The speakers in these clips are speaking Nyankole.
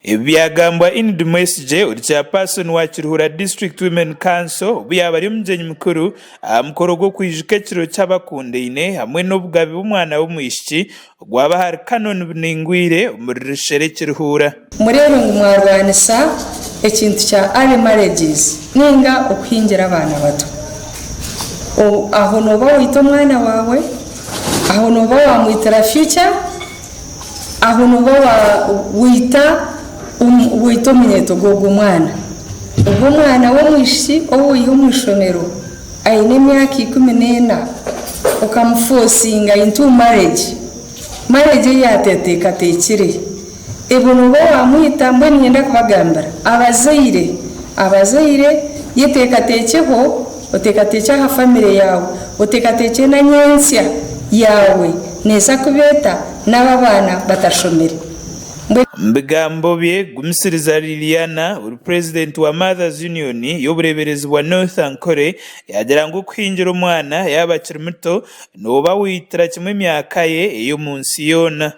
Ebi byagambwa Enid Mwesigye ori Chairperson wa Kiruhura District Women Council obu yaaba ari omugyenyi mukuru aha mukoro gw'okwijuka ekiro ky'abakundaine hamwe n'obugabe bw'omwana w'omwishiki ogwaba ahari Canon Biningwire omuri Rushere Kiruhura. Mureebe ngu mwarwanisa ekintu kya early marriages ninga okuhingira abaana bato. Aho nooba waita omwana waawe, aho nooba wamwitira future Aho nooba waita omunyeeto gw'ogwo mwana. Ogwo mwana w'omwishiki ou waiha omu ishomero aine emyaka ikumi n'ena, okamufosinga into marriage, marriage ei atateekateekire, obwo nooba waamwita. Mbwenu niinyenda kubagambira abazaire, abazaire ye teekateekyeho. oteekateekye aha famire yaawe, oteekateekye na nyentsya yaawe neeza kuba eta naaba abaana batashomire? Mbwenu. Omu bigambo bye, Gumisiriza Liliana ori purezidenti wa Mothers Union y'obureeberezi bwa North Ankole yaagira ngu okuhingira omwana yaaba akiri muto nooba waitira kimwe emyaka ye ey'omu nsi yoona.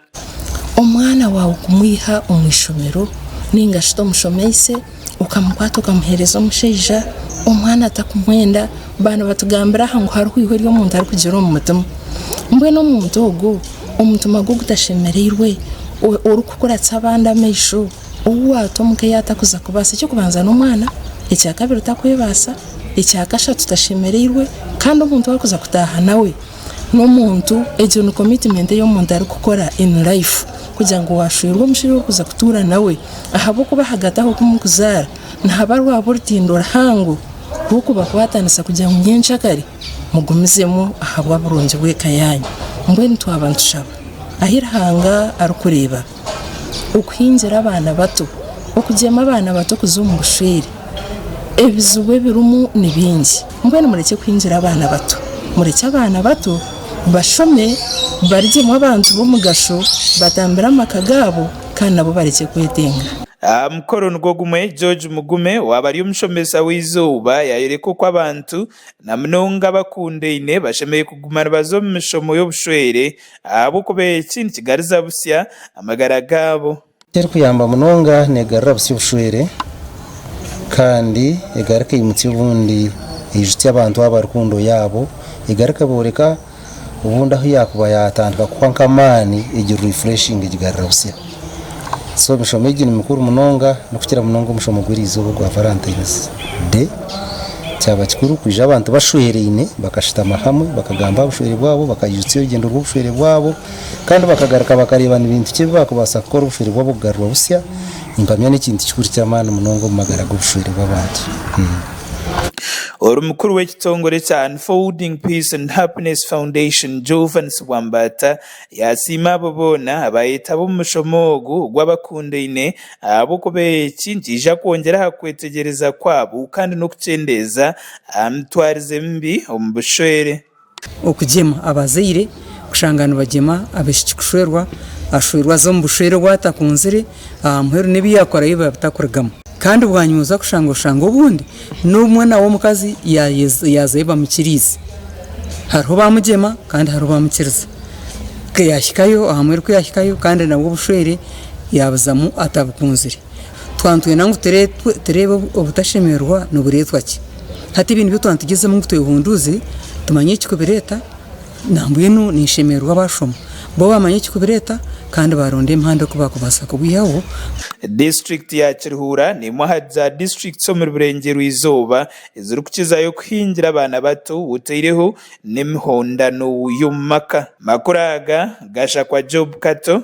Omwana waawe kumwiha omu ishomero nainga shi tomushomeise okamukwata okamuhereza omushaija omwana atakumwenda nibatugambira aha ngu hariho eihwe ry'omuntu arikugira omu mutima mbwenu omuntu ogwo omutima gwe ogutashemereirwe orikukuratsa abandi amaisho ou waata omu ka yatakuza kubaasa eky'okubanza n'omwana ekyakabiri takwebaasa ekyakashatu tashemereirwe kandi omuntu wakuza kutaaha nawe n'omuntu, egyo ni commitment ei omuntu arikukora in life kugira ngu waashwerwa omushaija orikuza kutuura nawe ahabw'okuba ahagati aho kumukuzaara nihaba rwaba orutindo ruhango rw'okubakwatanisa kugira ngu nyenkyakare mugumizemu ahabw'oburungi bw'eka yaanyu. Mbwenu twaba nitushaba ahi Ruhanga arikureeba. okuhingira abaana bato, okugyema abaana bato kuza omu bushwere, ebizibu ebirimu ni bingi. Mbwenu murekye kuhingira abaana bato. Murekye abaana bato bashome, barigyemu abantu b'omugasho, batambire amaka gaabo kandi nabo barekye kwetenga. Aha mukoro nigwo gumwe, George Mugume owaabari omushomesa w'eizooba yaayoreka oku abantu Na munonga abakundaine bashemereire kuguma nibaza omu mishomo y'obushwere ahabw'okuba eki nikigariza busya amagara gaabo. Eky'erikuyamba munonga neegarura busya obushwere kandi egarika eimutsya obundi eijutsya abantu abo abarikunda oyaabo egarika booreka. obundi ahu yakuba yatandika kuhwa nka amaani egi refreshinga egigarira busya so emishomo egi ni mikuru munonga nokukira munonga omushomo gw'erizooba ogwa valentines day kyaba kikuru kwija abantu bashwereine bakashutama hamwe bakagamba aha bushwere bwabo bakaijutsya orugyendo rw'obushwere bwabo kandi bakagaruka bakareeba ni bintu ki ebi bakubaasa kukora obushwere bwabo kugarurwa busya mpamya n'ekintu kikuru ky'amaani munonga omu magara g'obushwere bw'abantu. Ori mukuru w'ekitongore kya Unfolding Peace and Happiness Foundation, Jovan Sibwambata, yaasiima abo boona abaayetaba omu mushomo ogu ogw'abakundaine ahabw'okuba eki nikiija kwongyera aha kwetegyereza kwabo kandi n'okukyendeeza aha mitwarize mibi omu bushwere. Okugyema, Abazaire kushanga nibagyema abaishiki kushwerwa, ashwerwa aza omu bushwere obu atakunzire, aha muheru n'ebi yaakorayo biba bitakurigamu. Kandi bwanyima oza kushanga oshanga obundi n'omwana w'omukazi yaazayo bamukiriize. Hariho baamugyema kandi hariho baamukiriza. Ku yaahikayo aha muheru ku yaahikayo kandi nabwo obushwere yaabuzamu atabukunzire. Twaba nitwenda ngu tureebe obutashemererwa nibureetwa ki? Hati ebyo nibyo twaba nitugyezemu ngu twehunduuze tumanye ekikubireeta nambwenu ninshemererwa abaashoma bo baamanya ekikubireeta kandi baaronda emihanda oku baakubaasa kubwihaho. Disiturikiti ya Kiruhura n'emwe ahari za disiturikiti omuri Burengyerwa Izooba ezirikukizayo kuhingira abaana bato otaireho n'emihondano y'omu maka. Amakuru aga gashakwa Job Kato